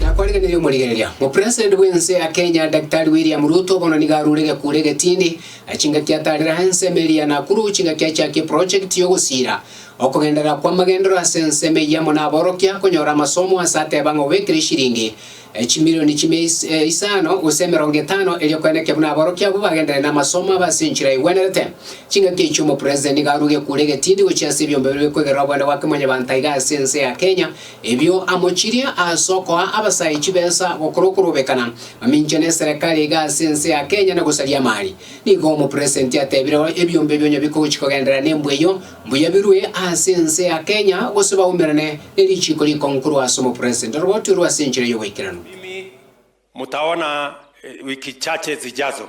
Na kwarigereria omorigereria, mopresident bw'ense ya Kenya Daktari William Ruto bono nigo arure egekure egetindi, na chingaki atarera ensemo eria Nakuru chingaki achakie eprojekti y'ogosiira okogenderera kw'amagendero ase ensemo eyio amo naborokia konyora amasomo ase ateba ng'a obekire eshiringi chimilioni chimia isano gose emerongo etano erio korende ekiagera naborokia abwo bagenderere namasomo abe ase enchera egwenerete. Chingaki echio omopresident nigo arure egekure egetindi gochia ase ebiombe bire bikwegerera obwene bwake Mwanyabaanto aiga ase ense ya Kenya Ebio amochirie ase okoa abasae chibesa gokora okorobekana mamincha neserekari iga ase ense ya Kenya na gosaria amari. Nigo omopresenti atebire ebiombe ebio onye bikogochi kogenderera nembwa eyio, mbuya birue ase ense ya Kenya gose baumerane ne richiiko rikongu korwa ase omopresenti oro baotorwe ase enchera y'oboikeranu. Mimi mutaona wiki chache zijazo.